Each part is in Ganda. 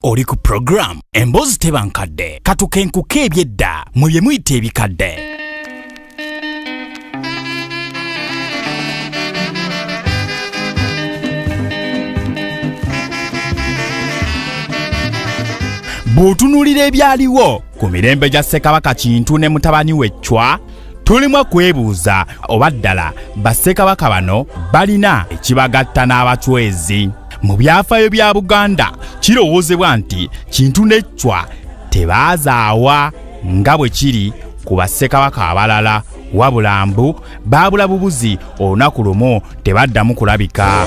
oli ku puroguramu emboozi teba nkadde katukenkuka ebyedda mwe bye muyita ebikadde bw'otunuulira ebyaliwo ku mirembe gya ssekabaka kintu ne mutabani we ccwa tulimu kwebuuza oba ddala bassekabaka bano balina ekibagatta n'abacwezi mu byafaayo bya buganda kirowoozebwa nti kintu n'eccwa tebaazaawa nga bwe kiri ku bassekabaka abalala wabula mbu baabula bubuzi olunaku lumu tebaddamu kulabika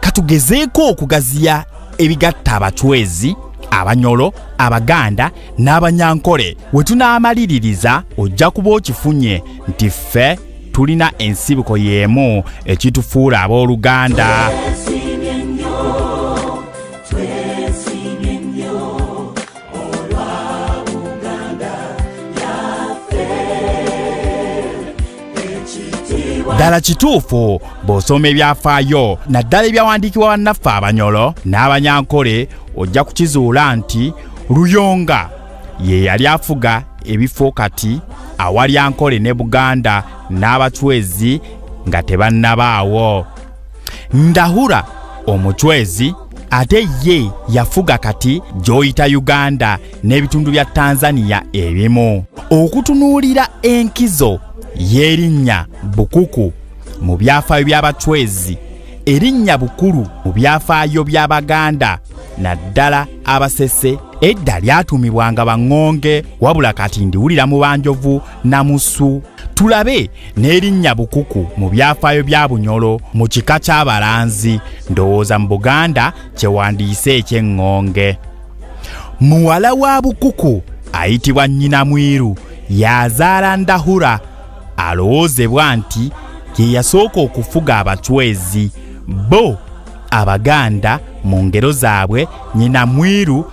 katugezeeko okugaziya ebigatta abacwezi abanyolo abaganda n'abanyankole we tunaamaliririza ojja kuba okifunye nti ffe tulina ensibuko y'emu ekitufuula ab'oluganda yes. ddala kituufu bw'osoma ebyafaayo naddala ebyawandiikibwa bannaffe abanyolo n'abanyankole ojja kukizuula nti luyonga ye yali afuga ebifo kati awali ankole ne buganda n'abacwezi nga tebannabaawo ndahura omucwezi ate ye yafuga kati gy'oyita uganda n'ebitundu bya tanzania ebimu okutunuulira enkizo y'erinnya bukuku mu byafaayo by'abacwezi erinnya bukulu mu byafaayo by'abaganda naddala abasese edda lyatuumibwanga baŋŋonge wabula kati ndiwulira mu banjovu namusu tulabe n'erinnya bukuku mu byafaayo bya bunyolo mu kika ky'abalanzi ndowooza mu buganda kyewandiise eky'eŋŋonge muwala wa bukuku ayitibwa nnyina mwiru yazaala ndahura alowoozebwa nti ye yasooka okufuga abacwezi bo abaganda mu ngero zaabwe nnyina mwiru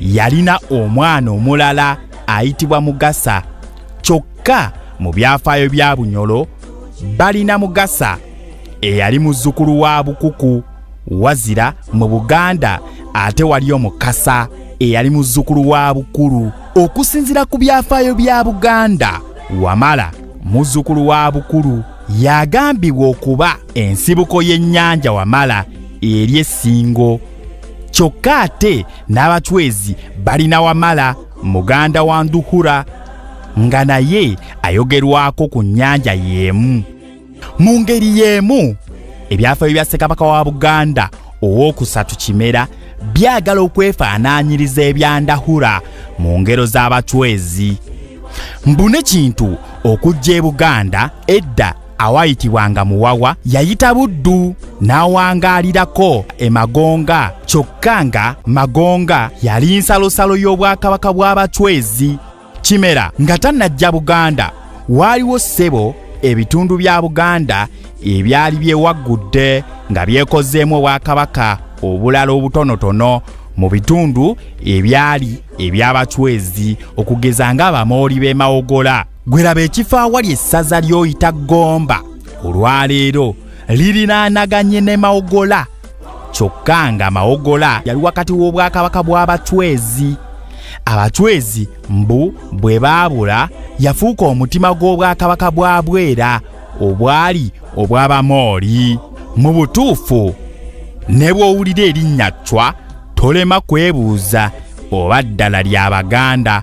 yalina omwana omulala ayitibwa mugasa kyokka mu byafaayo bya bunyolo balina mugasa eyali muzzukulu wa bukuku wazira mu buganda ate waliyo mukasa eyali muzzukulu wa bukulu okusinzira ku byafaayo bya buganda wamala muzzukulu wa bukulu yagambibwa okuba ensibuko y'ennyanja wamala eri essingo kyokka ate n'abacwezi balina wamala muganda wa nduhura nga naye ayogerwako ku nnyanja y'emu mu ngeri y'emu ebyafaayo bya ssekabaka wa buganda ow'okusatu kimera byagala okwefaanaanyiriza ebya ndahura mu ngero z'abacwezi mbune kintu okujja e buganda edda awaayitibwanga muwawa yayita buddu n'awangaalirako emagonga kyokka nga magonga yali nsalosalo y'obwakabaka bw'abacwezi kimera nga tannajja buganda waaliwo ssebo ebitundu bya buganda ebyali byewaggudde nga byekozeemu obwakabaka obulala obutonotono mu bitundu ebyali eby'abacwezi okugeza ng'abamooli b'emawogola gwe laba ekifo awali essaza ly'oyita gomba olwaleero lirinaanaganye ne mawogola kyokka nga mawogola yali wakati w'obwakabaka bw'abacwezi abacwezi mbu bwe baabula yafuuka omutima gw'obwakabaka bwa bwera obwali obw'abamooli mu butuufu ne bw'owulira erinnya cwa tolema kwebuuza oba ddala lya baganda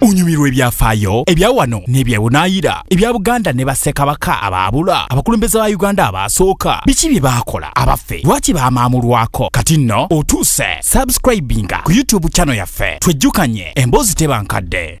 onyumirwa ebyafaayo ebya wano n'ebyebunaayira ebya buganda ne bassekabaka abaabula abakulembeze ba uganda abaasooka biki bye baakola abaffe lwaki baamaamulwako kati nno otuuse subscribinga ku youtube channel yaffe twejjukanye emboozi teba nkadde